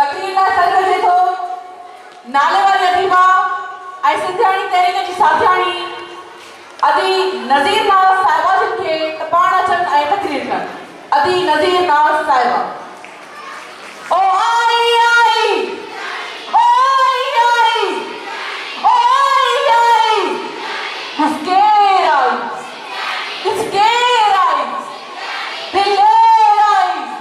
تقرير لاء سڏ ڪجي ٿو. ناليواري اديبه ۽ سنڌياڻي تحريڪ جي ساٿياڻي ادي نذير ناز صاحبه جن کي ته پاڻ اچن ۽ تقرير ڪن. ادي نذير ناز صاحبه. او آئي آئي او آئي آئي او آئي آئي ڏس ڪير آئي ڏس ڪير آئي دلير آئي.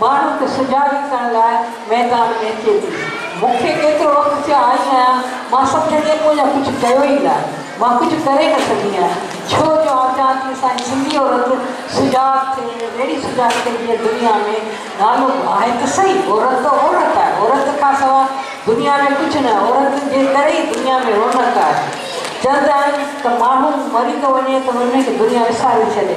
ماڻهن کي سجاڳ ڪرڻ لاء ميدان ۾ اچي ٿي. مون کي ڪيترو وقت ٿيا آئي آهيان، مان سمجهان ٿي مون اڃا ڪجهه ڪيو ئي نه. مان ڪجهه ڪري نه سگهي آهيان، ڇو جو آئون چاهيان ٿي اسان جي سنڌي عورت سجاڳ ٿئي، اهڙي سجاڳ ٿئي جيئن دنيا ۾ نالو آهي ته سهي، عورت ته عورت آهي، عورت کان سواء دنيا ۾ ڪجهه نه، عورت جي ڪري ئي دنيا ۾ رونق آهي. چوندا آهن ته ماڻهو مري ٿو وڃي ته ان کي دنيا وساري ڇڏي.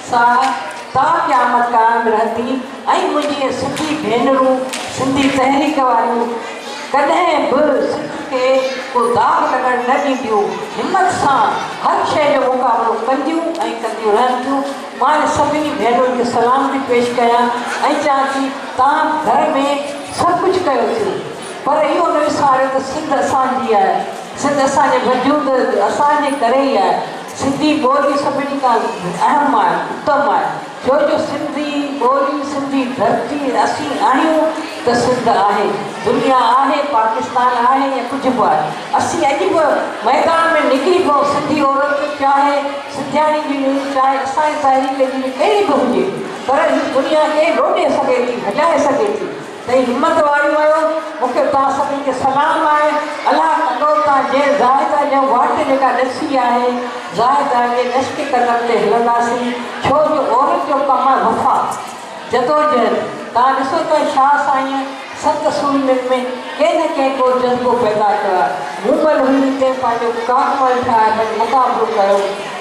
سا تا قيامت قائم رهندي ۽ منهنجي سنڌي ڀينرون سنڌي تحريڪ واريون ڪڏهن به سنڌ تي ڪو داغ لڳڻ نه ڏينديون همت سان هر شيء جو مقابلو ڪنديون ۽ ڪنديون رهنديون مان انهن سڀني ڀينرن کي سلام ٿي پيش ڪيان ۽ چيان ٿي توهان گهر ۾ سڀ ڪجهه ڪيو ٿيو پر اهو نه وساريو ته سنڌ اسان جي آهي سنڌ اسان جي وجود اسان جي ڪري ئي آهي. سنڌي ٻولي سڀني کان اهم آهي، اتم آهي، ڇو جو سنڌي ٻولي، سنڌي ڌرتي، اسين آهيون ته سنڌ آهي، دنيا آهي، پاڪستان آهي يا ڪجهه به آهي، اسين اڄ به ميدان ۾ نڪري پئون، سنڌي عورت چاهي سنڌياڻي جي هجي، چاهي اسان جي تحريڪ جي ڪهڙي به هجي، پر هي دنيا کي لوڏي سگهي ٿي، هجائي سگهي ٿي. تي همت واري ويو مون کي توهان سڀني کي سلام آهي الله ڪندو ته جنهن زاهده جي واٽ جيڪا ڏسي آهي زاهده جي نشڪي قدم تي هلنداسين ڇو جو عورت جو ڪم آهي وفا جدوجهد توهان ڏسو ته شاهه سائينء ست سورمين ۾ ڪنهن نه ڪنهن ڪو جذبو پيدا ڪيو آهي مومل هئي تنهن پنهنجو ڪارمل ٺاهي ڀلي مقابلو ڪيو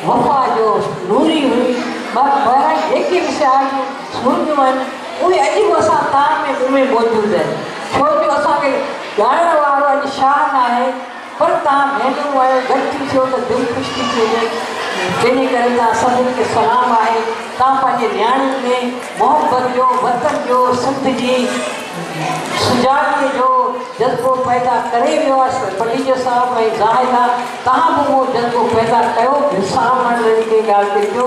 وفا جو نوري هئي بهرحال جيڪي به سياح جون سورميون آهن اهي اڄ به اسان تان ۾ مون ۾ موجود آهن، ڇو جو اسان کي ڳائڻ وارو اڄ شاهه ناهي، پر تان ڀينرون آهيو، گڏ ٿي ٿيو ته دل خوش ٿي ٿي وڃي، تنهن ڪري تان سڀني کي سلام آهي، تان پنهنجي نياڻين ۾ محبت جو، وطن جو، سنڌ جي سجاڳي جو جذبو پيدا ڪري ويو آهي، پليجو صاحب ۽ زاهده تان به اهو جذبو پيدا ڪيو، ڀرسان اهو هاڻ رڙي ڪنهن ڳالهه تي ٿيو.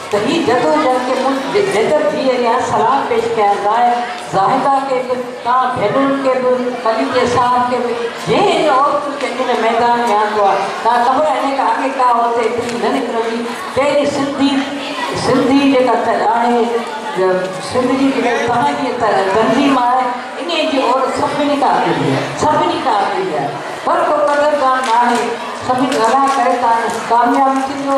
ته هي جدوجهد کي مون جيتر ڌيء ليا سلام پيش ڪيا ظاهر زاهده کي به تان ڀينرن کي به مليڪي صاحب کي به جنهن ان عورتن کي ان ميدان ۾ آندو آ تان خبر هني کان اڳي ڪا عورت ايتري نه نڪرندي ڪهڙي سنڌي سنڌي جيڪا ته آهي سنڌ جي جيڪا تهان جي تنظيم آهي انهي جي عورت سڀني کان اڳي هئي سڀني کان اڳي هئي پر ڪو قدردان ناهي سڀني ڀلا ڪري تان ڪامياب ٿيندو